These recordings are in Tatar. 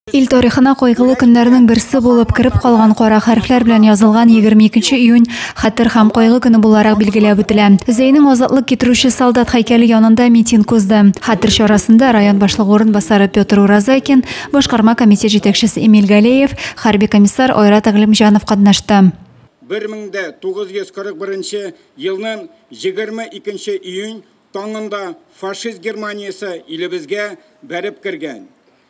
Ил тарихына кайгылы көннәрнең берсе булып кереп калган кара хәрефләр белән язылган 22 июнь хәтер һәм кайгы көне буларак билгеләп үтелә. Зәйнең азатлык китерүче солдат һәйкәле янында митинг узды. Хәтер чарасында район башлыгы урынбасары Петр Уразайкин, башкарма комитет җитәкчесе Эмиль Галеев, хәрби комиссар Айрат Әглимҗанов катнашты. 1941 елның 22 июнь таңында фашист Германиясе илебезгә бәреп кергән.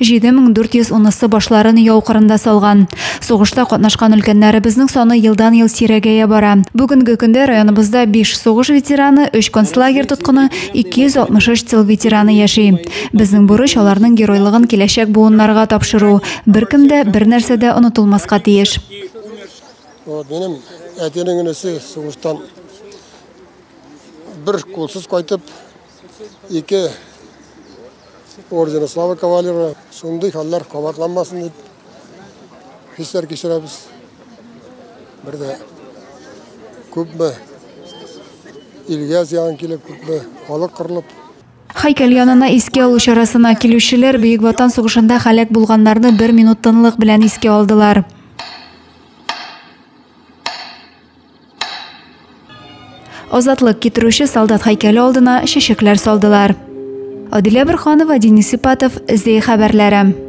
7400 унысы башларын яу кырында салган. Сугышта катнашкан өлкәннәребезнең саны елдан-ел сирәгәя бара. Бүгенге көндә районыбызда 5 сугыш ветераны, 3 концлагерь тоткыны, 263 тыл ветераны яши. Безнең бурыч аларның геройлыгын киләчәк буыннарга тапшыру. Беркем дә, бернәрсә дә онытылмаска тиеш. Вот минем әтинең энесе сугыштан бер кулсыз кайтып, Ике ордена слава кавалеры. Шундый хәлләр кабатланмасын дип хисләр кичерәбез. Бер дә күпме илгә зыян килеп, күпме халык кырылып, Һәйкәл янына иске алу чарасына килүчеләр Бөек Ватан сугышында халәк булганнарны бер минут тынлык белән иске алдылар. Азатлык китерүче солдат һәйкәле алдына чәчәкләр салдылар. Адилә Бөрханова, Денис Ипатов, Зей хәбәрләре.